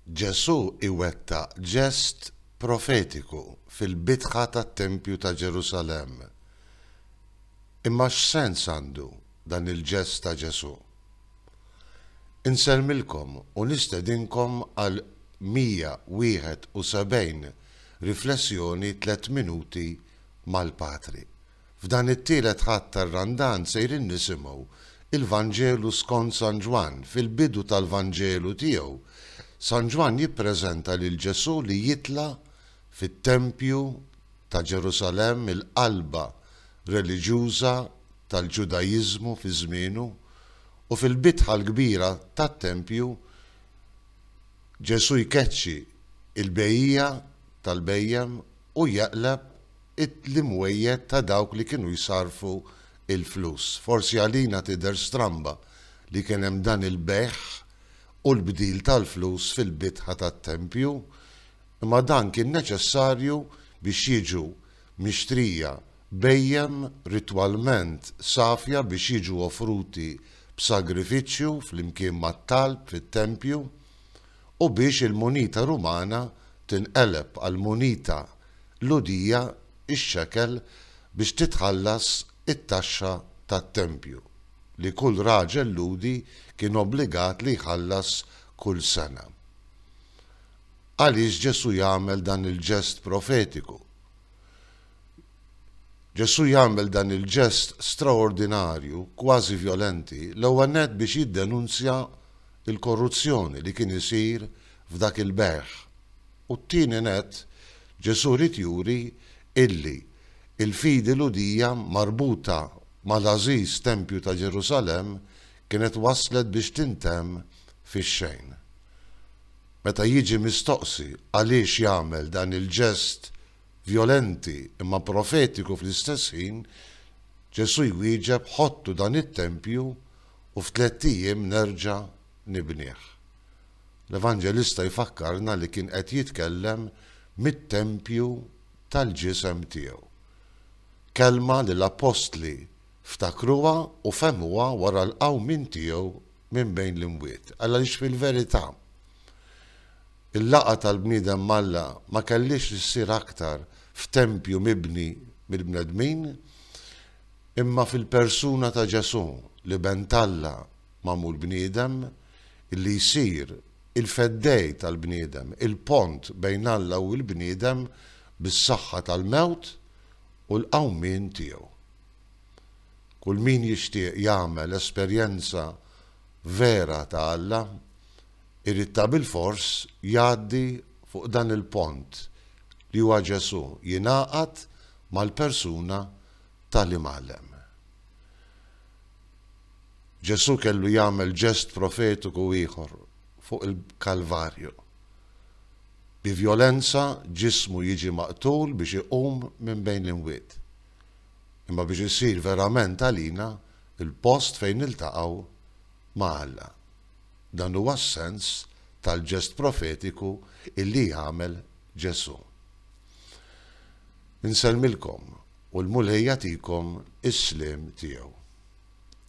Ġesù iwettaq ġest profetiku fil-bitħa tat-tempju ta' Ġerusalemm. Imma x'sens għandu dan il-ġest ta' Ġesù? Insellmilkom u nistedinkom għal 171 riflessjoni tliet minuti mal-Patri. F'dan it-tielet Ħadd tar-Randan sejrin nisimgħu l-Vanġelu skont San Ġwann. Fil-bidu tal-Vanġelu tiegħu, San Ġwann jippreżenta lil Ġesù li jitla' fit-tempju ta' Ġerusalemm, il-qalba reliġjuża tal-Ġudaiżmu fi żmienu, u fil-bitħa l-kbira tat-tempju Ġesù jkeċċi l-bejjiegħa tal-bhejjem u jeqleb l-imwejjed ta' dawk li kienu jsarrfu l-flus. Forsi għalina tidher stramba li kien hemm dan il-bejgħ u l-bdil tal-flus fil-bitħa tat-tempju, imma dan kien neċessarju biex jiġu mixtrija bhejjem ritwalment safja biex jiġu offruti b'sagrifiċċju flimkien mat-talb fit-tempju u biex il-munita Rumana tinqeleb għal munita l-udija, ix-xekel, biex titħallas it-taxxa tat-tempju, li kull raġel Lhudi kien obbligat li jħallas kull sena. Għaliex Ġesù jagħmel dan il-ġest profetiku? Ġesù jagħmel dan il-ġest straordinarju, kważi vjolenti, l-ewwel nett biex jiddenunzja l-korruzzjoni li kien isir f'dak il-bejgħ U t-tieni nett, Ġesù ried juri illi l-fidi Lhudija marbuta mal-għażiż tempju ta' Ġerusalemm kienet waslet biex tintemm fix-xejn. Meta jiġi mistoqsi għaliex jagħmel dan il-ġest vjolenti imma profetiku fl-istess ħin, Ġesù jwieġeb ħottu dan it-tempju u f'tlett ijiem nerġa' nibnih. L-Evanġelista jfakkarna li kien qed jitkellem mit-tempju tal-ġisem tiegħu. Kelma li l-appostli ftakruha u fehmuha wara l-qawmien tiegħu minn bejn l-imwiet, għaliex fil-verità, il-laqgħa tal-bniedem m'Alla ma kellhiex issir aktar f'tempju mibni mill-bnedmin, imma fil-persuna ta' Ġesù, l-Iben t'Alla magħmul bniedem, li jsir il-feddej tal-bniedem, il-pont bejn Alla u l-bniedem bis-saħħa tal-mewt u l-qawmien tiegħu. Kull min jixtieq jagħmel esperjenza vera ta' Alla, irid tabilfors jgħaddi fuq dan il-pont li huwa Ġesù, jingħaqad mal-persuna tal-Imgħallem. Ġesù kellu jagħmel ġest profetiku ieħor fuq il-Kalvarju. Bi vjolenza ġismu jiġi maqtul biex iqum minn bejn l-imwiet. Imma biex isir verament għalina l-post fejn niltaqgħu ma' Alla. Dan huwa s-sens tal-ġest profetiku illi jagħmel Ġesù. Insellmilkom u l-Mulej jagħtikom is-sliem tiegħu.